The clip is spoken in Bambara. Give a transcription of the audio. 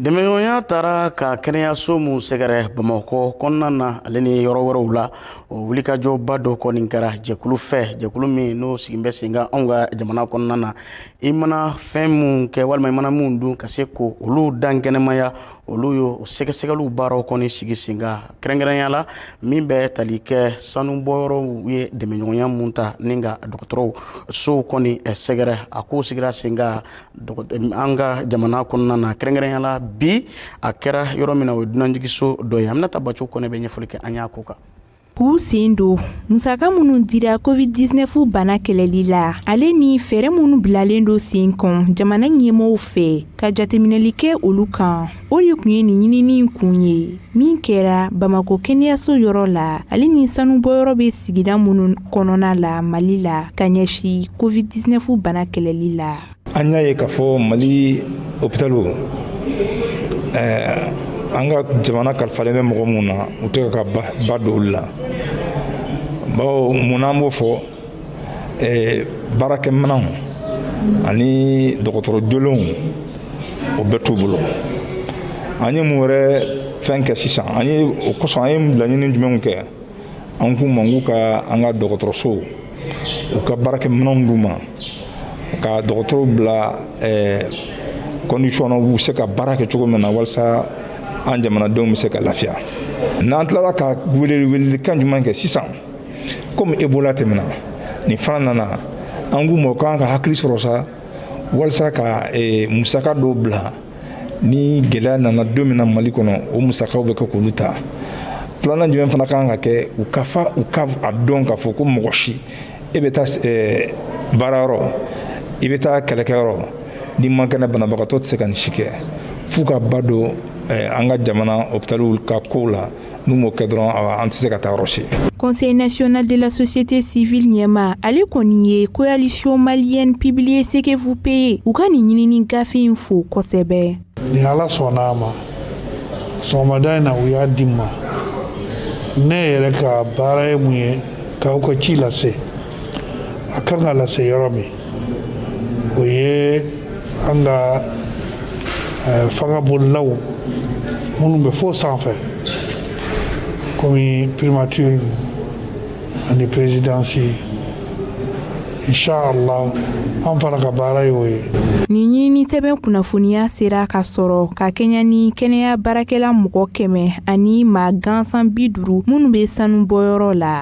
Dɛmɛɲɔgɔnya taara ka kɛnɛyayaso minnu sɛgɛrɛ bamakɔ kɔnɔna na ale ni yɔrɔ wɛrɛw la o wulikajɔba dɔ kɔni kɛra jɛkulu fɛ jɛkulu min n'o sigilen bɛ sen kan anw ka jamana kɔnɔna na i mana fɛn minnu kɛ walima i mana minnu dun ka se k'olu dankɛnɛmaya olu ye o sɛgɛsɛgɛli baaraw kɔni sigi sen kan kɛrɛnkɛrɛnya la min bɛ tali kɛ sanubɔyɔrɔw ye dɛmɛɲɔgɔnya minnu ta ni ka dɔgɔtɔrɔsow kɔni sɛgɛrɛ a k'o sigira sen an ka jamana kɔnɔna na kɛrɛnkɛrɛnya la bi a kɛra yɔrɔ min na o ye dunanjiginso dɔ ye Aminata Baco Kɔnɛ bɛ ɲɛfɔli kɛ an ye a ko kan. k'u sen don musaka minnu dira covid 19 bana kɛlɛli la ale ni fɛɛrɛ minnu bilalen don sen kan jamana ɲɛmɔgɔw fɛ ka jateminɛli kɛ olu kan O de tun ye nin ɲinini in kun ye min kɛra Bamakɔ kɛnɛyaso yɔrɔ la ale ni sanubɔyɔrɔ bɛ sigida minnu kɔnɔna la Mali la ka ɲɛsin Covid 19 bana kɛlɛli la. An y'a ye k'a fɔ Mali hopitaliw ɛɛ an ka jamana kalifalen bɛ mɔgɔ minnu na u tɛ ka ba don olu la bawo mun na an b'o fɔ eh, baarakɛminɛnw ani dɔgɔtɔrɔ jolenw o bɛɛ t'u bolo an ye mun wɛrɛ fɛn kɛ sisan an ye o kosɔn an ye laɲini jumɛnw kɛ an k'u ma k'u ka an ka dɔgɔtɔrɔsow u ka baarakɛminɛnw d'u ma ka dɔgɔtɔrɔw bila eh, condition na u bɛ se ka baara kɛ cogo min na walasa an jamanadenw bɛ se ka lafiya n'an tilala ka weleli welelikan jumɛn kɛ sisan komi Ebola tɛmɛna nin fana nana an k'u ma u kan ka hakili sɔrɔ sa walisa ka eh, musaka dɔw bila ni gɛlɛya nana don min na mali kɔnɔ o musakaw bɛ kɛ k'olu ta filanan jumɛn fana kan ka kɛ u ka fa u ka a dɔn k'a fɔ ko mɔgɔ si e bɛ taa eh, baarayɔrɔ i bɛ taa kɛlɛkɛyɔrɔ n'i man kɛnɛ banabagatɔ tɛ se ka nin si kɛ f'u ka ba don eh, an ka jamana hopitaliw ka kow la n'u m'o kɛ dɔrɔn an tɛ se ka taa yɔrɔ si. Conseil national de la société civile ɲɛmaa ale kɔni ye coalition malienne publiez ce que vous payez u ka nin ɲinini gafe in fo kosɛbɛ. Ni Ala sɔnna a ma sɔgɔmada in na u y'a di n ma ne yɛrɛ ka baara ye mun ye k'aw ka ci lase a kan ka lase yɔrɔ min o ye an ka fanga bolilaw minnu bɛ fo sanfɛ kɔmi primature ani présidence inshallah an fana ka baara ye o ye nin ɲinini sɛbɛn kunnafoniya sera ka sɔrɔ ka kɛɲɛ ni kɛnɛya baarakɛla mɔgɔ kɛmɛ ani maa gansan bi duuru minnu bɛ sanubɔyɔrɔ la